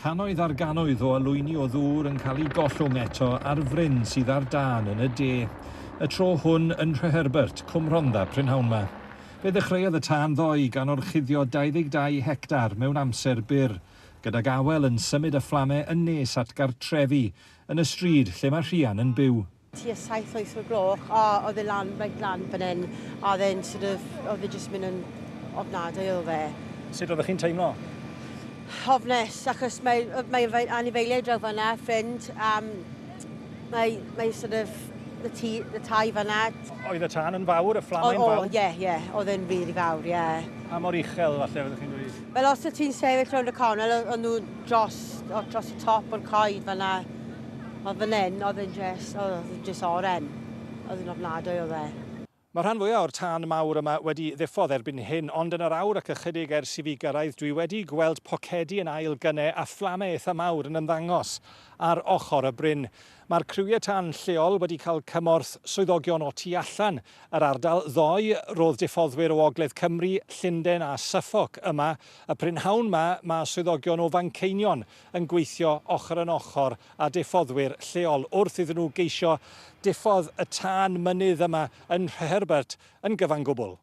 Cannoedd ar gannoedd o olwyni o ddŵr yn cael eu gollwng eto ar fryn sydd ar dân yn y de. Y tro hwn yn Nhreherbert, Cwm Rhondda prynhawn 'ma. Fe ddechreuodd y tân ddoe gan orchuddio 22 hectar mewn amser byr, gydag awel yn symud y fflamau yn nes at gartrefi yn y stryd lle mae Rhian yn byw. tua saith wyth o'r gloch a oedd e lan, reit lan fan hyn a oedd e'n sort of, oedd e jyst mynd yn ofnadwy o fe. Sut oeddech chi'n teimlo? Hofnes, achos mae, mae fe anifeiliaid draw fanna, ffrind, um, mae, mae sort of y, tŷ, y tai fanna. Oedd y tân yn fawr, y fflamau'n fawr? O, ie, yeah, ie, yeah. oedd e'n rili fawr, ie. Yeah. Pa mor uchel falle oeddech chi'n dweud? Wel, os oedd ti'n sefyll rownd y canol, oedd nhw dros, dros y top o'r coed fanna. Ond fan hyn, oedd e'n jyst, oedd e'n jyst oren. Oedd e'n ofnadwy oedd e. Mae rhan fwyaf o'r tân mawr yma wedi ddiffodd erbyn hyn, ond yn yr awr ac ychydig ers i fi gyrraedd dwi wedi gweld pocedi yn ail gyne a fflame eitha mawr yn ymddangos ar ochr y bryn. Mae'r criwiau tân lleol wedi cael cymorth swyddogion o tu allan yr ardal ddoe, roedd diffoddwyr o ogledd Cymru, Llunden a Suffolk yma y prynhawn ma, mae swyddogion o Fanceinion yn gweithio ochr yn ochr â diffoddwyr lleol wrth iddyn nhw geisio diffodd y tân mynydd yma yn Nhreherbert yn gyfan gwbl.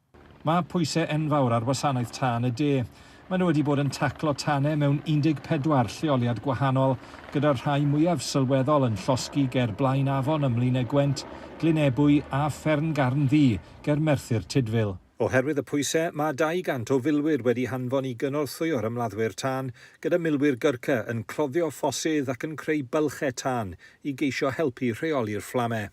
Mae pwysau enfawr ar Wasanaeth Tân y De. Maen nhw wedi bod yn taclo tanau mewn 14 lleoliad gwahanol, gyda'r rhai mwyaf sylweddol yn llosgi ger Blaen Afon ym Mlaenau Gwent, Glyn Ebwy a Fferm Garn Ddu ger Merthyr Tudful. Oherwydd y pwysau, mae 200 o filwyr wedi hanfon i gynorthwyo'r ymladdwyr tân, gyda milwyr Gurkha yn cloddio ffosydd ac yn creu bylchau tân i geisio helpu rheoli'r fflamau.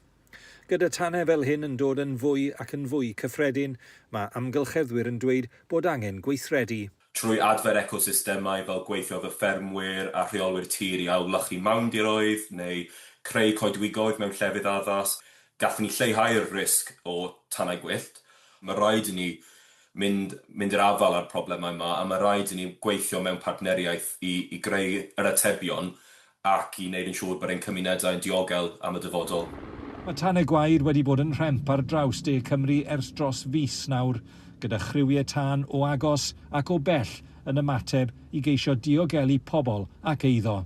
Gyda tanau fel hyn yn dod yn fwy ac yn fwy cyffredin, mae amgylcheddwyr yn dweud bod angen gweithredu. Trwy adfer ecosystemau fel gweithio efo ffermwyr a rheolwyr tir i ailwlychu mawndiroedd neu creu coedwigoedd mewn llefydd addas, gallwn ni lleihau'r risg o tanau gwyllt. Mae rhaid i ni mynd mynd i'r afael â'r problemau yma a mae rhaid i ni gweithio mewn partneriaeth i i greu yr atebion ac i wneud yn siŵr bod ein cymunedau'n diogel am y dyfodol. Mae Tan y Gwair wedi bod yn rhemp ar draws De Cymru ers dros fis nawr, gyda chriwiau tân o agos ac o bell yn ymateb i geisio diogelu pobl ac eiddo.